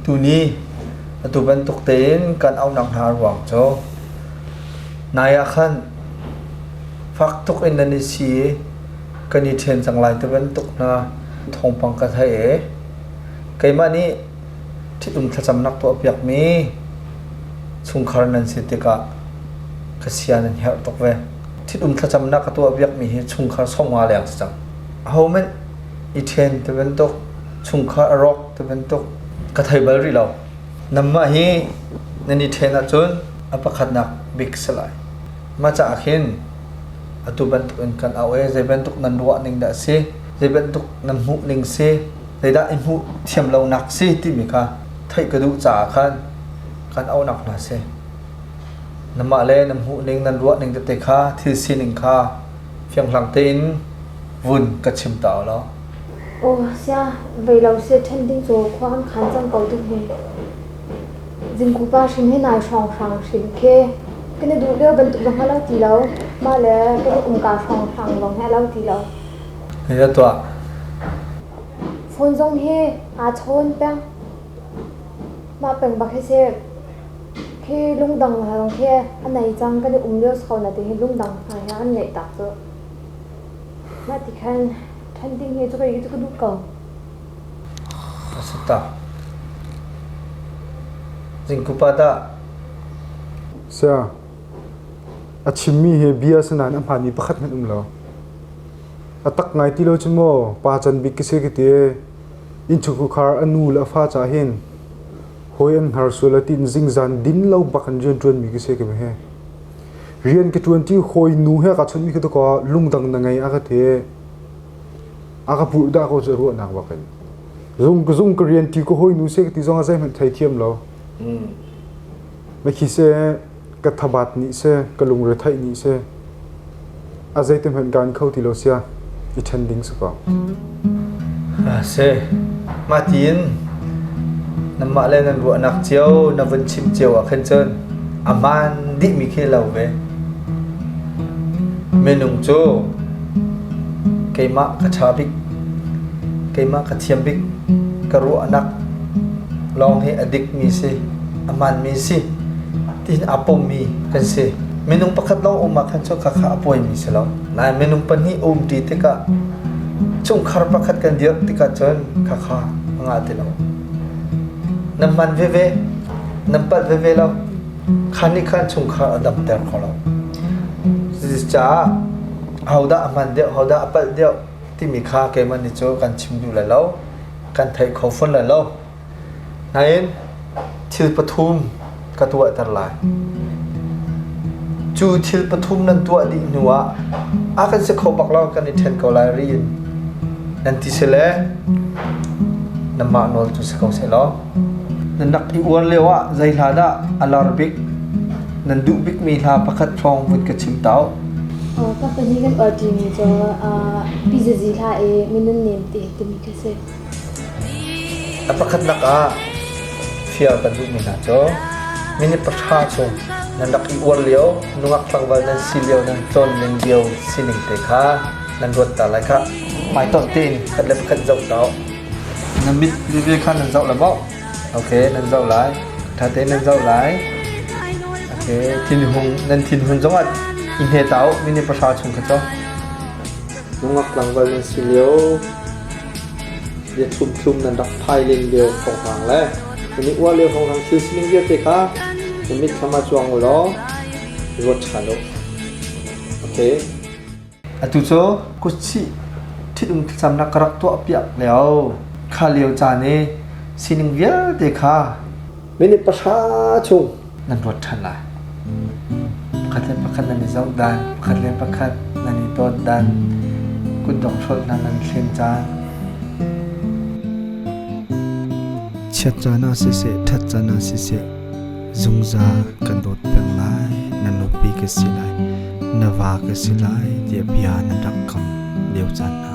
Tuni atu bantuk tein kan auhnak hna ruang cu nai ah khan fak tuk in nan i si i kan i ṭhen cang lai ti bantuk hna thawngpang ka theih i keimah nih ṭhitum thlacamnak tuahpiakmi chungkhar nan si tikah ka sia nan herh tuk ve. Ṭhitum thlacamnak ka tuahpiakmi hi chungkhar sawm nga leng si cang. Ahohmanh i ṭhen ti bantuk chungkhar a rawk ti bantuk ka thei bal rih lo. Nangmah hi nan i ṭhen ahcun a pakhatnak bik si lai. Mah caah khin atu bantuk in kan auh i zei bantuk nan ruah ning dah a si, zei bantuk nan hmuh ning si, zeidah i hmuh thiam lonak si timi kha theih ka duh caah khan kan auhnak hna si. Nangmah le nan hmuh ning, nan ruah ning tete kha, thil sining kha fianghlang tein vun ka chim ta u law Aw sia, vei lo seh ṭhen ding cu khua an khan cang ko ding hih. Zingkupa hrim hi nai hrawnghrang hrim khi. Kan i duh lio bantuk zong a lo ti lo. Mah le kan i umka hrawnghrang lawng hi a lo ti lo. Hei da tuah. Phone zong hi aa chawn peng. Mah peng bak hi seh. Khi lungdang lawng khi a nei cang. Kan i um lio so na ti hi lungdang hna hi an ngeih tak cu. Mah ti khan ṭhan ding hi cu kei cu ka duh ko. A si ta. Zingkupa dah. Saya, a chimmi hi bia si nain a hmaanmi pakhat hmanh um lo. A tak ngai ti lo cu maw pa can bik ka si ka ti. Innchungkhar a nu le a fa ca hin hawi an hnarsual a ti in zingzan din lo bak an rian ṭuanmi ka si ka meh. Rian ka ṭuanṭi hawi nu he kaa chawnhmi ka tuk ah lungdang na ngei a ka ti. A ka purh dah ko cu ruahnak bak in. Zung zung ka rian ṭi ka hawi nu se ka ti zong ah zeihmanh thei thiam lo. Na khi seh ka thabat nih seh ka lungretheih nih seh A zeitihmanh kaan kho ti lo sia, i ṭhen ding si kaw. Ah seh, mah tiin nanmah le nan ruahnak cio, na vun chim cio ah khan cun aman dihmi khi lo ve. Minung cu keimah ka ṭha bik, keimah ka thiam bik, ka ruahnak lawng hi a dikmi si, a manmi si, tihin aa pommi kan si. Minung pakhat lawng um ahkhan cu khakha a pawimi si lo. Nain minung pahnih um ṭi tikah chungkhar pakhat kan dirh tikah cun khakha a ngah ti lo. Nan man veve, nan palh veve lo. Khan nih khan chungkhar a damter kho lo. Cucaah hodah a hman deuh, hodah a palh deuh timi kha keimah nih cu kan chim duh lai lo, kan theih kho fawn lai lo. Nain thil pathum ka tuahter lai. Cu thil pathum nan tuah dih hnu ah a kan si kho bak lo kan i ṭhen ko lai ri in nan ti sile nanmah nawl cu si ko seh law na nak i uar lio ah zei hla dah a lar bik nan duh bikmi hla pakhat hrawng vun ka chim tau. Ka pahnih kan uar ṭimi cu pi zizi hla i Minun Nem Te timi khi a si. A pakhatnak ah fial kan duhmi hna cu minute pahra chung nan rak i uar lio, nungak tlangval nan si lio, nan tlawnning lio sining te kha nan ruat ta lai kha hmaitonh tein pakhat le pakhat zoh tawh. Na mit veve kha nan zoh lai maw? Ok, nan zoh lai. Ṭha tein nan zoh lai. Ok, thinhung nan thinhun zongah i hne ta u minute pahra chung kha cu. Nungak tlangval nan si lio, bia thlumthlum nan rak phai len lio hohrang le nan i uah lio hohrang thil sining vialte kha na mitthlam ah cuang u law ruat ṭhan u. Okay. Atu cu kutsih ṭhitum thlacam na ka rak tuahpiak lio kha lio caan i sining vialte kha minute pahra chung nan ruat ṭhan lai. Pakhat le pakhat nan i zoh dan, pakhat le pakhat nan i dawt dan, kutdong hrolh hna nan thlen caan. Chiat caan ah siseh, ṭhat caan ah siseh, zungzal kan dawt peng lai. Na nupi ka si lai, na va ka si lai, tiah bia nan rak kam lio caan hna.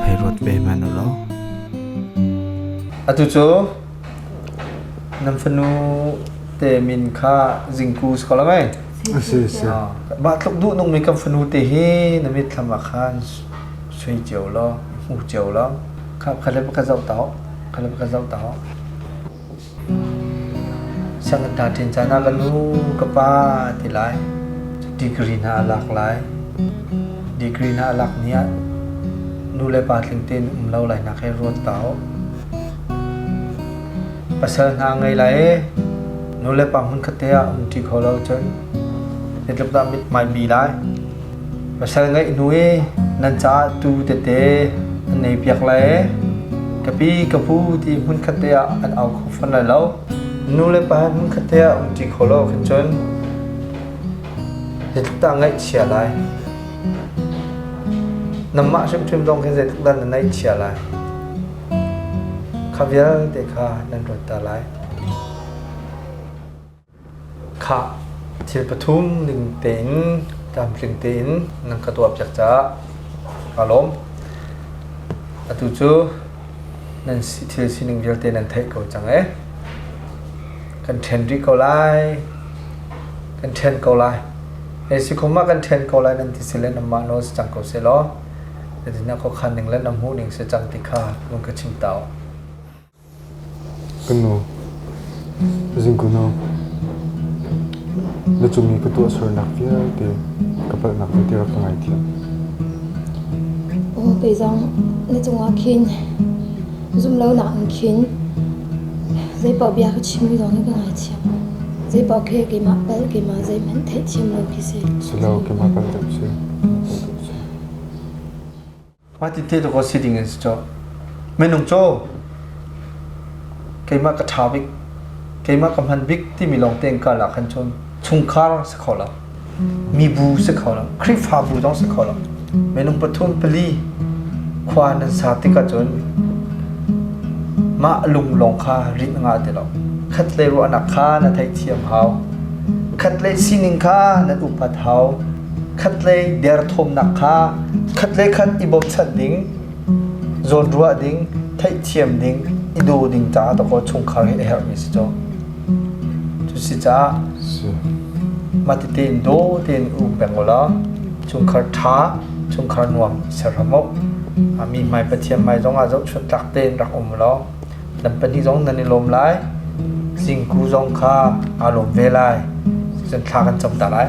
Hei ruat ve men u law. Atu cu Nan fanu te min kha Zingku si ko lo ai. A si a si. Mah tluk duhnungmi kan fanu te hi na mitthlam ah khan sui cio law, hmu cio law, kha le pakhat zoh ta hau, kha le pakhat zoh ta hau. Sianginn ta ṭin caan ah ka nu, ka pa ti lai. Degree hna a lak lai. Degree hna a lak ni ah nu le pa tling tein um lo lai nak he ruat ta hau. Pasal hna ngei lai i nulepa hmun khatte ah a um ṭi kho lo cun hi tluk tah mithmai bi lai. Pasal ngeih hnu i nan caah tuu tete an ei piak lai i ka pi ka pu ti hmun khatte ah an au kho fawn lai lo. Nulepa hi hmun khatte ah um ṭi kho lo ahcun cun hi tluk tah ngaihchia lai. Nanmah hrimhrim zong khi zeitluk dah na ngaihchia lai? Kha vialte kha nan ruatter lai. Khah thil pathum ning tein tlamtling tein nan ka tuahpiak caah kaa lawm. Atu cu nan thil sining vialte nan theih ko cang ee. Kan ṭhen rih ko lai. Kan ṭhen ko lai. Hei si khum ah kan ṭhen ko lai nan ti si le nanmah nawl si cang ko seh law. Na khuakhan ning le na hmuh ning si cang ti kha vun ka chim ta u. Kan nu, zingkuno na cung i ka tuah sualnak vialte ka palhnak vialte rak ka ngaithiam. Um, kei zong na cungah khin zumlonak in khin zeipaoh bia ka chimmi zong na ka ngaithiam. Zeipaoh khe keimah pal keimah zeihmanh theihthiam lo khi si. Si lo, keimah pal deuh si. Hmati tehtuk awk si ding an si cawh. Minung caw, keimah ka ṭha bik, keimah ka hman bik timi lawng te ka lak han cun chungkhar si kho lo, mibu si kho lo, Khrihfabu zong si kho lo. Minung pathum pali khua nan sa tik ahcun mah lung lawng kha rin a ngah ti lo. Khat le ruahnak kha na theihthiam hau. Khat le sining kha nan upat hau. khatlei derthawmnak kha khatlei khat i bochan ding, zawnruah ding, theihthiam ding, i daw ding caah tawkaw chungkhar hi a herhmi si cu. Cu si caah matite in daw tein um peng ulaw chungkhar ṭha, chungkhar nuam serhram u. A mi hmai Pathian hmai zongah zohchunh tlak tein rak um ulaw nan pahnih zong nan i lawm lai. Zingku zong kha aa lawm ve lai. Cucun thla kan cam ta lai.